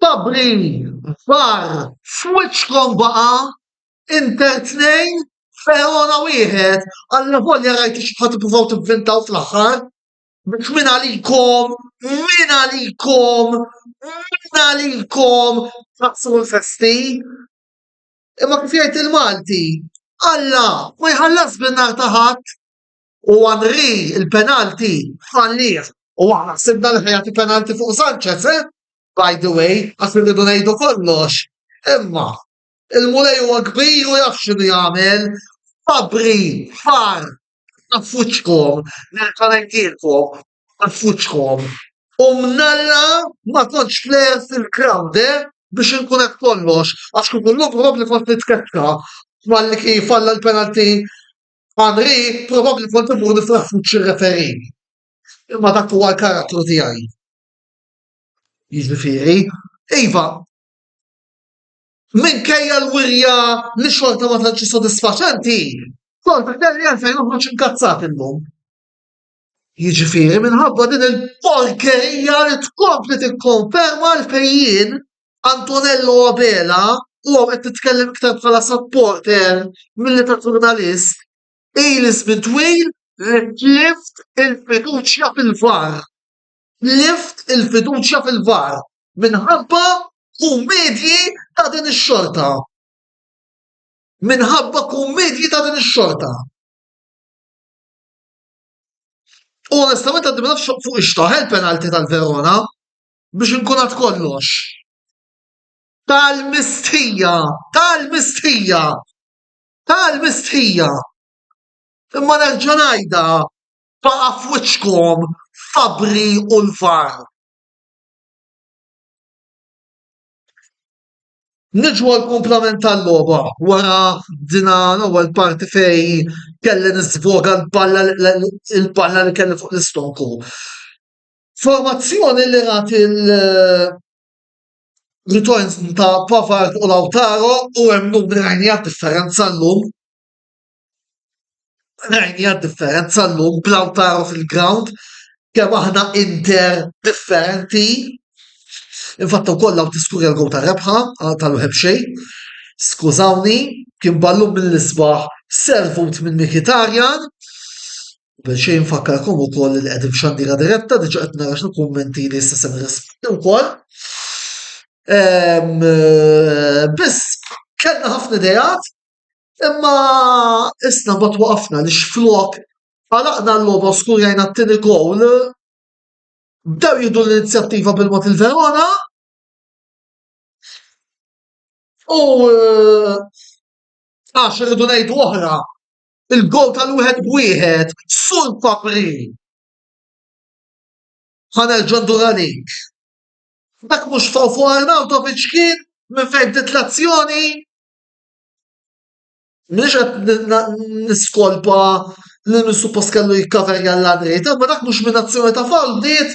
Sabri var f'wiċċkom baqa' Inter tnejn Verona wieħed għalla volja rajt xi ħadd ippruvaw tivvintaw fl-aħħar. Biex min għalikom, min għalikom, min għalikom taqsmu l-festi. Imma kif jgħid il-Malti, Alla ma jħallas bin-nar ta' ħadd u għanri il-penalti fallih u aħna sibna li ħajati penalti fuq Sanchez, eh? By the way, għas rridu ngħidu kollox. Imma, il-mulej huwa kbir u jaf x'inhu jagħmel. Fabri, far, Affuċkom, nerġa' ngħidilkom, affuċkom. U mnalla ma kontx plejer fil-crowd, eh, biex inkun qed kollox, għax kieku llum probabbli kont nitkeċċa malli kien jfalla l-penalty Henry, probabbli kont immur nifraħ f'wiċċ ir-referee. Imma dak huwa l-karattru tiegħi. Jiġifieri, iva, Minkejja l-wirja li xorta ma tantx hi sodisfaċenti, xorta kelli għalfejn noħroġ inkazzat illum. Jiġifieri minħabba din il-porkerija li tkompli tikkonferma għalfejn jien, Antonello Abela, u hawn qed nitkellem iktar bħala supporter milli ta' ġurnalist, ili żmien twil li tlift il-fiduċja fil-VAR. tlift il-fiduċja fil-VAR minħabba kummedji ta' din ix-xorta. Minħabba kummedji ta' din ix-xorta. U onestament għaddi ma nafx fuq ixtaħ il-penalti tal-Verona biex inkun għad kollox. Tal-mistħija, tal-mistħija, tal-mistħija. Imma nerġa' ngħidha Baqa' f'wiċċkom Fabbri u l-VAR. Niġu għall-kumplament tal-logħba wara din l-ewwel parti fejn kelli niżvoga l-balla l-balla li kelli fuq l-istokku. Formazzjoni li rat il- returns ta' Pavard u Lautaro u hemm numri rajni differenza llum. Rajni differenza l-lum blaw taru fil-ground kemm aħna inter differenti. Infatta u kollaw tiskurja l-għu ta' rebħa tal-wħeb xej. Skużawni, kien ballum mill-isbaħ servut minn Mikitarjan. Bħeċej nfakkarkom u koll li għedim xandira diretta, diġa għetna għax kommenti li s-sessem rispondi u koll. Ehm, eh, Biss, kellna ħafna dejat, Imma isna mbagħad waqafna li x'flok għalaqna l-logħba u skurjajna t-tieni gowl, bdew jieħdu l-inizjattiva bil-mod il-Verona u eh, għax irridu ngħidu oħra, il-gowl tal-wieħed b'wieħed sul papri ħanerġa' ndur għalik. Dak mhux faw fuq Arnautovic kien minn fejn dit l-azzjoni Mhux qed niskolpa li min suppost kellu jikkaverja l-għaniet, imma dak mhux minn azzjoni ta' fall bdiet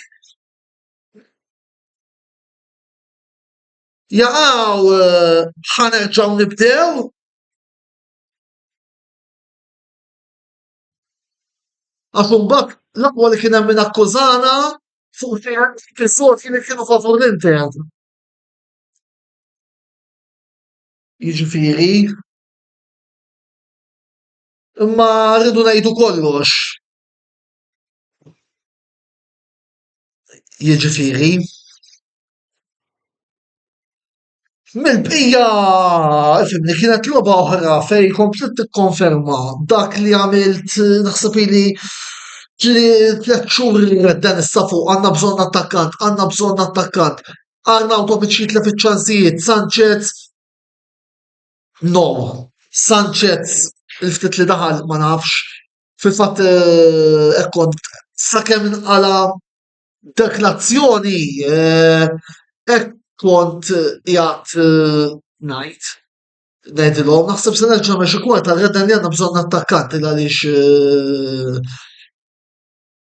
jaqaw eh, ħanerġaw nibdew. Għax imbagħad l-aqwa li kien hemm min akkużana fuq fis-sort kien kienu favur l-Inter. Jiġifieri, imma rridu ngħidu kollox. Jiġifieri, mill-bqija, fimni, kienet logħba oħra fejn kompliet tikkonferma dak li għamilt naħseb ili tliet xhur li għandna bżonn attakkant, għandna bżonn attakkant. Arnaut Tomic jitla fiċ-ċansijiet, Sanchez no. Sanchez il-ftit li daħal ma nafx. Fil-fatt eh, ekkont sakemm inqala dak l-azzjoni eh, ekkont jgħat eh, ngħid ngħidilhom naħseb se nerġa' mex kwarta għedden li għandna bżonn attakkanti għaliex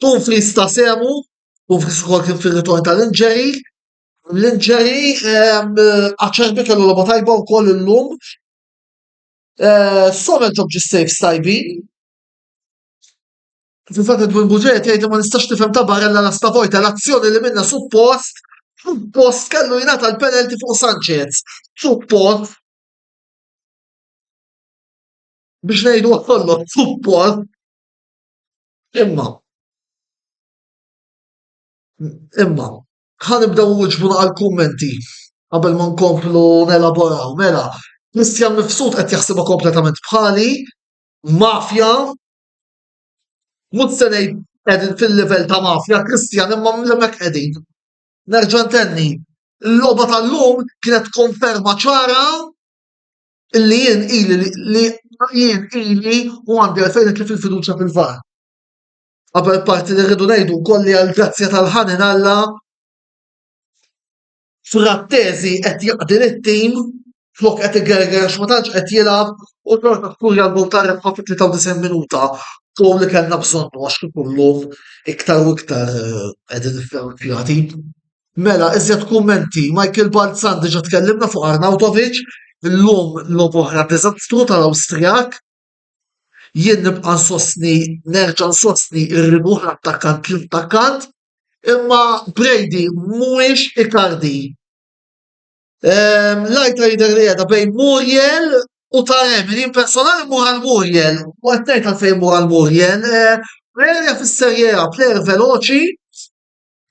Dumfries ta' sehmu, Dumfries ukoll kien fir-ritorn tal-injury. L-injury Acerbi kellu logħba tajba wkoll illum. Sommer ġob ġi saves tajbin. Fil-fatt Edwin Buġeja tgħid ma nistax tifhem ta' barella la stavojta l-azzjoni li minna suppost suppost kellu jingħata l-penalty fuq Sanchez. Suppost biex ngħidu kollox suppost Imma, imma, ħa nibdew wiġbuna għal-kummenti qabel ma nkomplu nelaboraw. Mela, Kristjan Mifsud qed jaħsibha kompletament bħali, mafja, mhux se ngħid qegħdin fil-livell ta' mafja, Kristjan imma hemmhekk qegħdin. Nerġa' ntenni, il-logħba tal-lum kienet konferma ċara Illi jien ili li jien ili u għandi għalfejn nitlef il-fiduċja fil-VAR. Qabel parti li rridu ngħidu wkoll li għall-grazzja tal-ħanin Alla Frattesi qed jaqdi lit-tim flok qed igerger għax ma tantx qed jilgħab u xorta skurja l-gol ta' rebħa fit-93 minuta u li kellna bżonnu għax kif illum iktar u iktar eh, qegħdin nifferkjati. Mela, iżjed kummenti. Michael Balzan diġa tkellimna fuq Arnautovic, l-lum lob oħra diżastru tal-Awstrijak. Jien nibqa' nsostni, nerġa' nsostni r-ribuħ l-attakkant l-attakkant, imma Brady mhuwiex Icardi. Ehm, lajta jidher li qiegħda bejn Muriel u Taremi, jien personali mur għal Muriel, u qed ngħid għalfejn mur għal Muriel. Eh, Muriel fis-Serie A, plejer veloċi,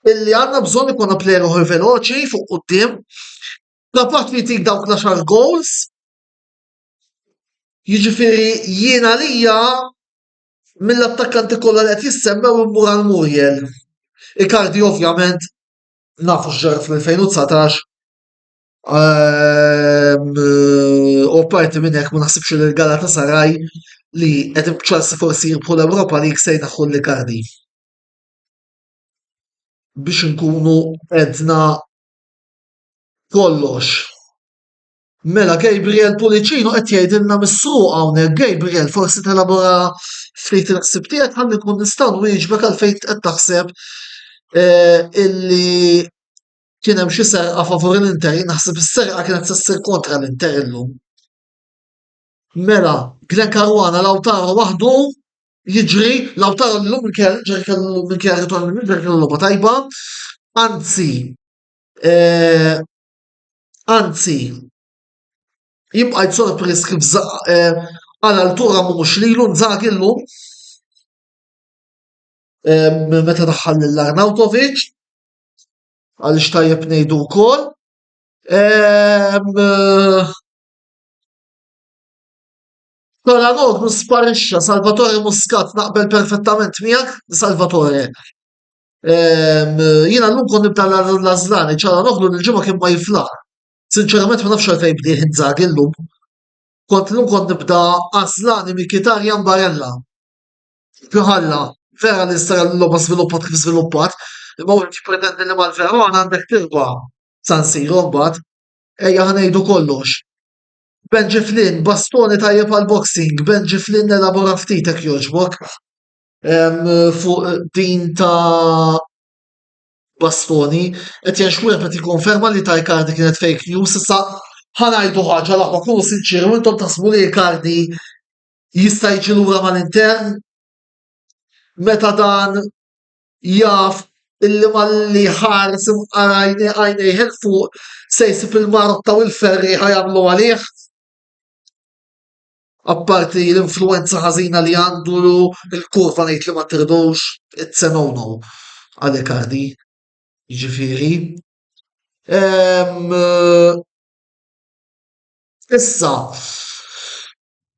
illi għandna bżonn ikonna plejer oħor veloċi fuq quddiem, kapaċi li jtik dawk l-għaxar goals. Jiġifieri jiena lija mill-attakkanti kollha li qed jissemmew immur għal Muriel. Ikardi ovvjament nafu x'ġara fl-2019 ehm, u parti minn hekk ma naħsibx li l-gala ta' Saraj li qed Chelsea forsi jirbħu l-Ewropa li jiksejna ħu l-Ikardi. biex inkunu edna kollox. Mela Gabriel Pulicino qed jgħidilna misruq hawnhekk Gabriel forsi telabora ftit il-ħsib tiegħek ħalli nkun nistgħu nwieġbek għal fejn qed taħseb eh, illi kien hemm xi serqa favur l-Inter, naħseb is-serqa kienet se ssir kontra l-Inter illum. Mela, Glenn Caruana Lautaro waħdu jiġri l-awtar l-lum il-kera ġer kellu l-lum il-kera ritorn minn ġer kellu loba tajba, anzi, eh, anzi, jibqa' jitsorpriż kif eh, għal altura mhux lilu nżagħ illum eh, meta daħħal lil Arnautovic għal xtajjeb ngħidu wkoll. Taranoglu sparixxa, Salvatore Muscat naqbel perfettament miegħek, Salvatore. Ehm, jiena llum kon nibda l-Azlani, Taranoglu l-ġimgħa kien ma jiflaħ. Sinċerament ma nafx għalfejn bdieħ inżag illum. Kont llum kon nibda Azlani Mikitarja Barella. Fl-ħalla, vera li sara l-logħba żviluppat kif żviluppat, imma wieħed jippretendi li mal-Verona għandek tirba' San Siro mbagħad. Ejja ħanejdu kollox. Benji Flynn, bastoni tajjeb għal boxing, Benji Flynn elabora ftit hekk jogħġbok fuq din ta' bastoni, qed jgħix wieħed qed jikkonferma li ta' Icardi kienet fake news, issa ħanajdu ħaġa l-aħwa kunu sinċieri u intom taħsbu li Icardi jista' jiġi lura mal-Inter meta dan jaf illi malli jħares imqar għajnejh 'il fuq se jsib il-marotta u l-ferrieħa jagħmlu għalih. Apparti l-influwenza ħażina li għandu l-kurva ngħid li ma tirdux it-Tsenono għal Icardi. Jiġifieri. Ehm, issa,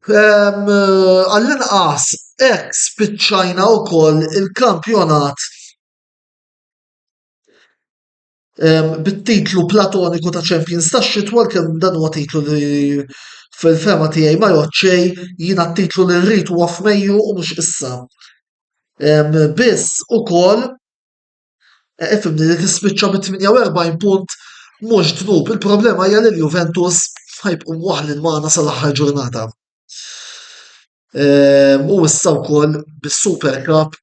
Għall-inqas hekk spiċċajna wkoll il-kampjonat bit-titlu platoniku ta' champions tax-xitwa għalkemm dan huwa titlu li fil-fehma tiegħi ma jgħodd xejn, jiena t-titlu li rrid huwa f'Mejju u mhux issa. Biss ukoll Eh, ifimni li tispiċċa bi 48 punt mhux dnub. Il-problema hija li l-Juventus ħajbqu waħlin magħna sal-aħħar ġurnata. Eh, u issa wkoll bis-Super Cup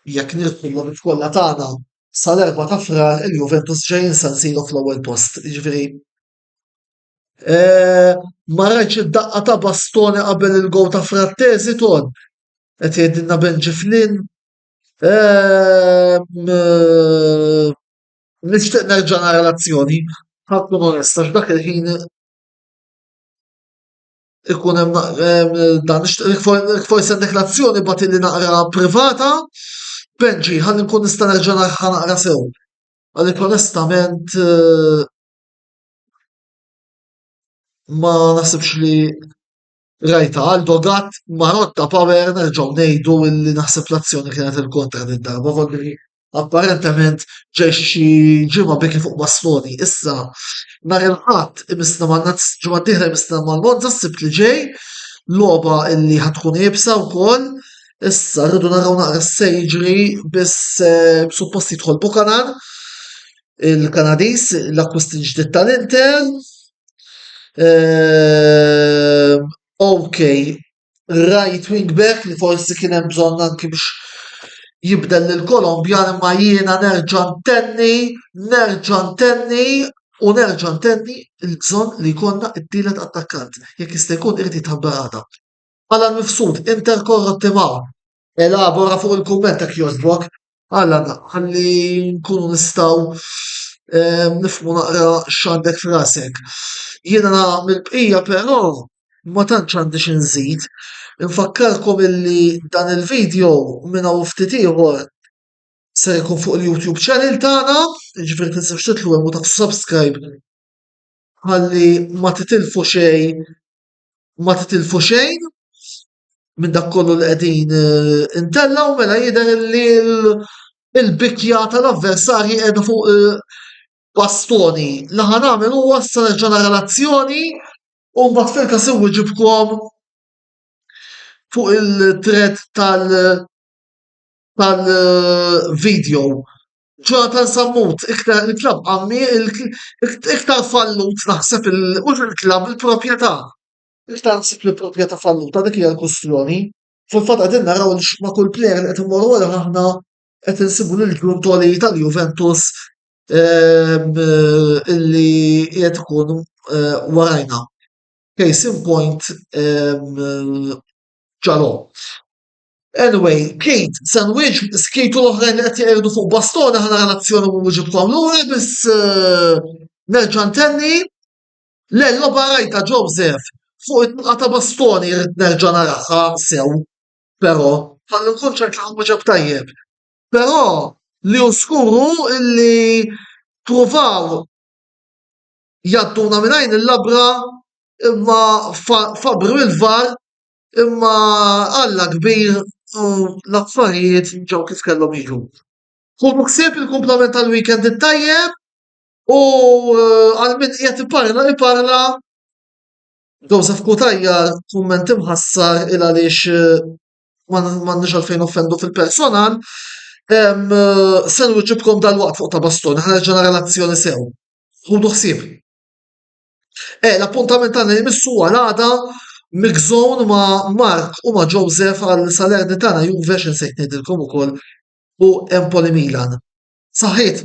jekk nirħu l kollha tagħna sal-erba ta' frar il-Juventus ġejjin San Siro fl-ewwel post. Jiġifieri eh, ma rajtx id-daqqa ta' bastoni qabel il-gow ta' Frattesi ton qed jgħidilna Benġi Flynn Nixtieq nerġa' nara l-azzjoni, ħa tkun onest, għax dak il-ħin ikun hemm dan forsi għandek l-azzjoni bagħad li naqra privata, Benġi, ħalli nkun nista' nerġa' nagħha naqra sew. Għalhekk onestament eh, ma naħsibx li Rajta għal dogat ma rotta power nerġgħu ngħidu illi naħseb l-azzjoni kienet il-kontra din darba volli apparentement ġej xi ġimgħa biki fuq Bastoni. Issa nhar il-ħadd imisna ma' ġimgħa d-dieħla imisna ma' Monza s-sibt li ġej logħba illi ħatkun ibsa wkoll. Issa rridu naraw naqra s-sejġri biss eh, suppost jidħol Bukanan il-Kanadiż, l-akkwist il-ġdid tal-Inter. Ehm, ok, right wing back li forsi kien hemm bżonn anki biex jibdel lil Kolombja imma jiena nerġa' ntenni, nerġa' ntenni u nerġa' ntenni l-bżonn li jkollna t-tielet attakkant jekk jista' jkun irid jitħabbar għada. Għala mifsud, Inter korrotti ma' elabora fuq il-kumment ta' kjożbok. Alla ħalli nkunu nistaw eh, nifmu naqra x'għandek frasek. Jiena mill-bqija però ma tantx għandi xi nżid. Infakkarkom illi dan il-video minn hawn ftit ieħor se jkun fuq il-YouTube channel tagħna, jiġifieri tinsewx titlu hemm u taqsu subscribe ħalli ma titilfu xejn ma titilfu xejn minn dak kollu li qegħdin eh, intellaw mela jidher li l-bikja tal-avversarji qiegħda fuq eh, bastoni. Li ħan għamil huwa sa nerġa' nara l-azzjoni u mbagħad fil-każ iwġibkom fuq il-thread tal tal-video. Jonathan Sammut, iktar il-klab għammi, iktar fallut naħseb il-klab il-propieta. Jekk taħseb li proprjetà falluta dik hija l-kwistjoni, fil-fatt qegħdin naraw li ma' kull plejer li qed immorru għalih aħna qed insibu lil ġurn toli tal-Juventus li qiegħed ikun warajna. Case in point Dalot. Anyway, Keith, se nwieġeb Keith u l-oħrajn li qed jgħidu fuq bastona ħana l-azzjoni u nwieġibkom lura biss nerġa' ntenni Le logħba rajtha Joseph, fuq it-tluqa ta' bastoni rrid nerġa' naraha sew però. Ħalli nkun ċert li nwieġeb tajjeb. Però li hu żgur hu li ppruvaw jgħadduna minn għajn il-labra imma fabbru il-VAR imma Alla kbir u l-affarijiet ġew kif kellhom jiġu. Ħudu ħsieb il-kumplament tal-weekend it-tajjeb U eh, għal min qiegħed iparla iparla Joseph Kutajja kumment imħassar il għaliex eh, m'għandniex għalfejn offendu fil-personal. Eh, Sen ġibkom dal-waqt fuq ta' bastun, ħarġa relazzjoni sew. Ħudu ħsieb. E, l-appuntament tagħna jmissu għal għada Mixon ma' Mark u ma' Joseph għal Salerni tagħna Juve x'insejt ngħidilkom ukoll u Empoli Milan. Saħħit!